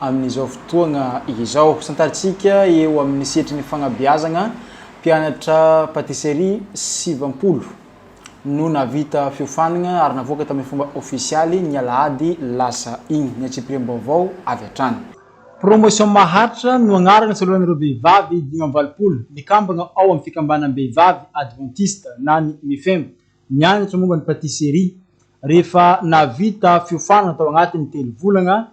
amin'izao fotoagna izao. Santarintsika eo amin'ny setry ny fagnabeazagna, mpianatra patisserie sivampolo no nahavita fiofanagna ary navoaka tamin'ny fomba ofisialy ny alahady lasa igny, ny antsipiriam-baovao avy hatrany. Promotion Maharitra no agnarana soloan'ireo vehivavy dimy amby valopolo mikambagna ao amin'ny fikambanam-behivavy advantista na ny Mifem, nianatra momba ny patisserie. Rehefa nahavita fiofanagna tao agnatin'ny telo volagna,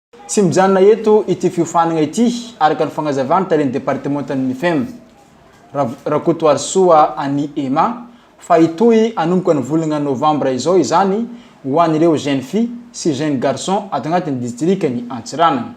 Tsy mijanona eto ity fiofanana ity, araka ny fanazavan'ny talen'ny departemantan'ny Mifem, Rav Rakotoarisoa Annie Emma, fa hitohy hanomboka ny volana novambra izao izany ho an'ireo Jeunes Filles sy Jeunes Garçons ato anatin'ny distrikan'i Antsiranana.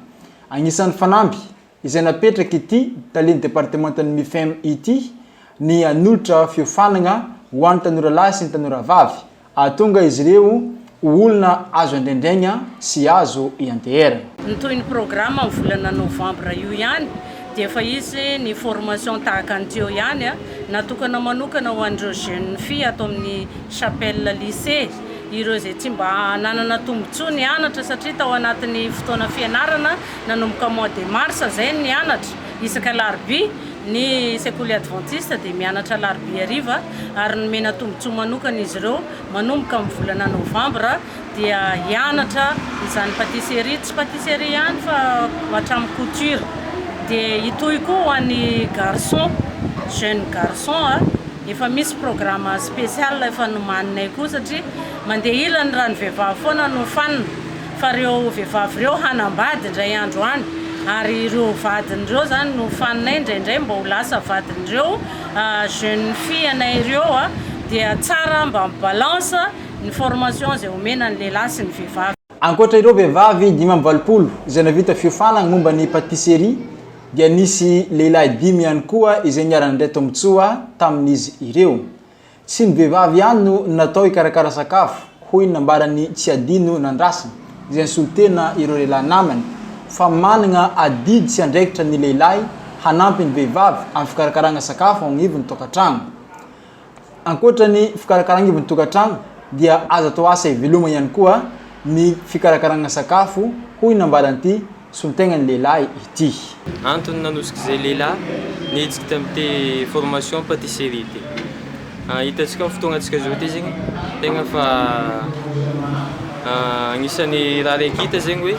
Anisan'ny fanamby. izay napetraky ity talen'ny departemantan'ny Mifem ity ny hanolotra fiofanagna ho an'ny tanora lahy sy ny tanora vavy, hahatonga izy ireo ho olona azo andraindraigna sy azo ianteherana. Ny tohin'ny programme amin'ny volana novambra io ihany dia efa hisy ny formation tahaka ny tiô ihany natokana manokana ho an'ireo jeune fille ato amin'ny Chapelle Lycée, ireo izay tsy mba nanana tombotsoa nianatra satria tao anatin'ny fotoana fianarana Nanomboka mois de mars izay ny nianatra, isaka alarobia, ny sekoly advantista dia mianatra alarobia hariva ary nomena tombotsoa manokana izy ireo manomboka amin'ny volana novambra dia hianatra izany patisserie, tsy patisserie ihany fa hatramin'ny couture, dia hitohy koa ho an'ny garçon, jeune garçon a, efa misy programme spécial efa nomaninay koa satria mandeha ilany raha ny vehivavy foana no fanina. fa ireo vehivavy ireo hanambady indray andro any ary ireo vadiny ireo zany no faninay indraindray mba ho lasa vadin'ireo jeune fille anay ireo a dia tsara mba mi balance ny formation izay omena ny lehilahy sy ny vehivavy. Ankoatra ireo vehivavy dimy amby valopolo izay nahavita fiofanana momba ny patisserie dia nisy lehilahy dimy ihany koa izay niara-nandray tombontsoa tamin'izy ireo. Tsy ny vehivavy ihany no natao hikarakara sakafo, hoy ny nambaran'i Tsiadino Nandrasana, izay nisolo tena ireo lehilahy namany, fa manana adidy sy andraikitra ny lehilahy hanampy ny vehivavy amin'ny fikarakarana sakafo ao agnivon'ny tokantrano. Ankoatra ny fikarakarana agnivon'ny tokantrano dia azo atao asa ivelomany ihany koa ny fikarakarana sakafo, hoy ny nambaran'ity Solontenga ny lehilahy ity. Antony nanosik'izay lehilahy nihetsika tamin'ity formation patisserie ity. Hitantsika amin'ny fotoanantsika izao ity zegny tegna fa agnisan'ny raha raiky hita zegny hoe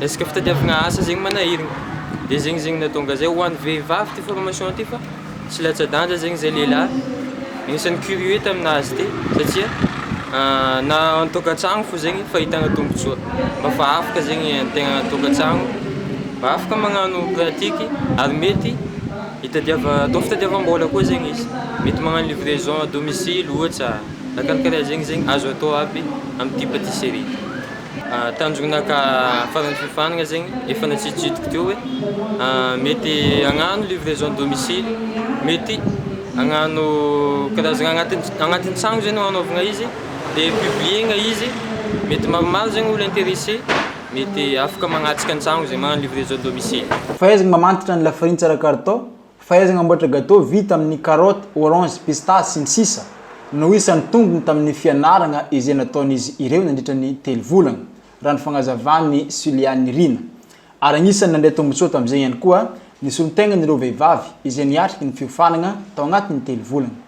resaka fitadiavagna asa zegny manahiragna. Dia zegny zegny nahatonga izay ho an'ny vehivavy ity formation ity fa. Tsy latsa-danja zegny zay lehilahy, agnisan'ny curieux taminah azy ty satria na an-tokantragno fô zegny fahitana tombotsoa, mba fa afaka zegny ny tegna an-tokantragno, mba afaka magnano pratique ary mety hitadiava- atao fitadiavam-bola koa zegny izy, mety magnano livraison à domicile ohatra, na karakaraha zegny zegny azo atao aby amin'ity patisserie ty. Tanjona ka faran'ny fiofanana zegny efa natsiditsidiko teo hoe mety agnano livraison à domicile, mety agnano karazana agnatin'ny agnatin'ny tragno zegny no agnaovana izy de publier-na izy mety maromaro zegny olo interesse mety afaka magnatsika an-tragno zegny magnano livraison à domicile. Fahaizana mamantatra ny lafarintsy ara-kalitao. Fahaizana mamboatra gateau vita amin'ny carottes, oranges, pistaches, sy ny sisa no isan'ny tombony tamin'ny fianarana izay nataon'izy ireo nandritra ny telo volana, raha ny fanazavan'i Suliani Rina. Ary anisan'ny nandray tombontsoa tamin'izay ihany koa ny solontenan'ireo vehivavy izay niatrika ny fiofanana tao anatin'ny telo volana.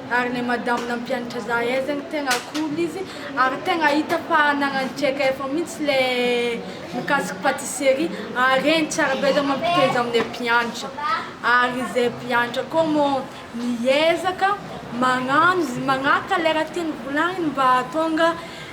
ary le madame nampianatra za aizany tegna cool izy ary tegna hita fa nagnano JKF mintsy le mikasiky patisserie ary regny tsara be za mampitohy azy amle mpianatra ary ze mpianatra koa mô miezaka magnano izy magnaraka le raha tiany volagniny mba ahatonga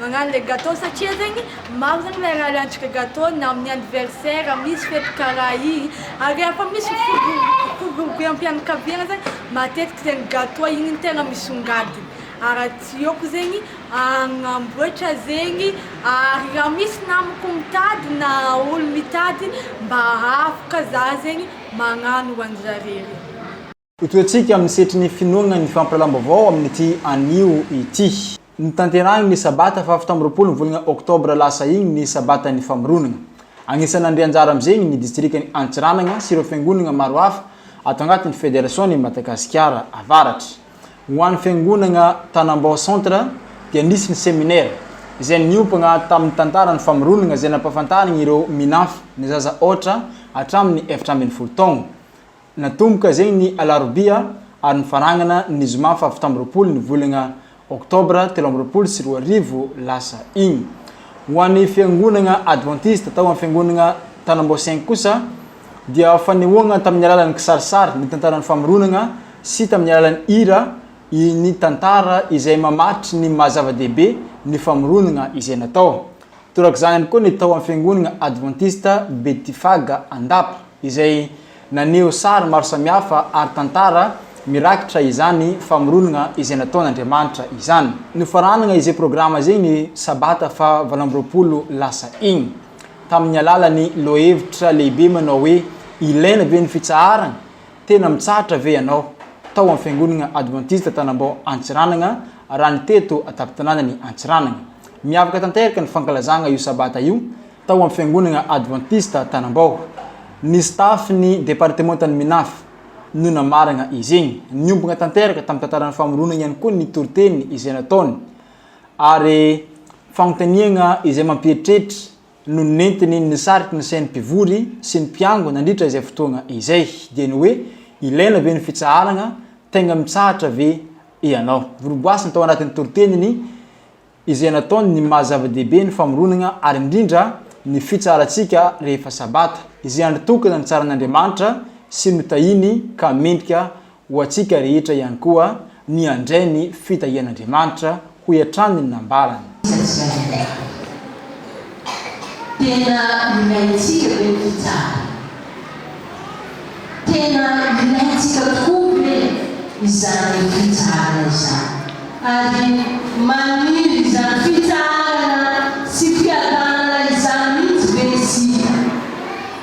Magnano le gateau satria zegny maro zegny miarary hantrika gateau na amin'ny anniversaire misy fety karaha igny ary rehefa misy fivoriampianakaviagna zegny matetiky zegny gateau igny no tegna misongadina ary tsy eko zegny agnamboatra zegny ary raha misy namako mitady na olo mitady mba afaka za zegny magnano ho anjareo. Hotohetsika amin'ny setry ny finoana ny fampiralam-baovao amin'ity anio ity. Notanterahiny ny sabata fahafito amby roapolo ny volana oktobra lasa iny ny sabatan'ny famoronana. Anisan'ny nandray anjara amin'izegny ny distrikan'i Antsiranana sy ireo fiangonagna maro hafa ato agnatin'ny Federasion'i Madagasikara Avaratra. Ho an'ny fiangonagna Tanambao Centre dia nisy ny seminera izay niompagna tamin'ny tantaran'ny famoronagna izay nampahafantarigny ireo Minaf ny zaza aotra hatramin'ny efatra ambin'ny folo taogno Natomboka izay ny alarobia ary nifarangana ny zoma fahafito amby roapolo ny volana oktobra telo amby roapolo sy roa arivo lasa iny. Ho an'ny fiangonana advantista tao amin'ny fiangonana Tanambao-Cinq kosa dia fanehoana tamin'ny alalan'ny kisarisary ny tantaran'ny famoronana sy tamin'ny alalan'ny hira ny tantara izay mamaritra ny maha-zava-dehibe ny famoronana izay natao Torak'izany ihany koa ny tao amin'ny Fiangonana Advantista Betifaga Andapa, izay naneho sary maro samihafa ary tantara mirakitra izany famoronana izay nataon'Andriamanitra izany. Nofaranana izay programa izay ny sabata faha valo amby roapolo lasa iny, tamin'ny alalan'ny lohahevitra lehibe manao hoe Ilaina ve ny Fitsaharana? Tena mitsahatra ve ianao tao amin'ny Fiangonana Advantista Tanambao Antsiranana raha ny teto an-tampon-tanànan'i Antsiranana? Miavaka tanteraka ny fankalazana io Sabata io tao amin'ny Fiangonana Advantista Tanambao. Ny staff-n'ny departemantan'ny Minaf no namarana iziny. Niombona tanteraka tamin'ny tantaran'ny famoronana ihany koa ny toriteny izay nataony ary fanontaniana izay mampieritreritra no nentiny nisariky ny sain'ny mpivory sy ny mpiango nandritra izay fotoana izay, dia ny hoe, ilaina ve ny fitsaharana, tegna mitsahatra ve ianao? Voloboasiny tao anatin'ny toriteniny izay nataony ny maha zava-dehibe ny famoronana ary indrindra ny fitsaharantsika rehefa sabata, izay andro tokana nitsaran'Andriamanitra sy notahiany ka mendrika Ho antsika rehetra ihany koa ny handray ny fitahian'Andriamanitra, hoy hatrany ny nambarany. Iza tsy mahay milaza. Tena ilaintsika ve ny fitsarana? Tena ilaintsika tokoa ve izany fitsarana izany? Ary maniry izany fitsarana sy fiadanana izany mihitsy ve isika?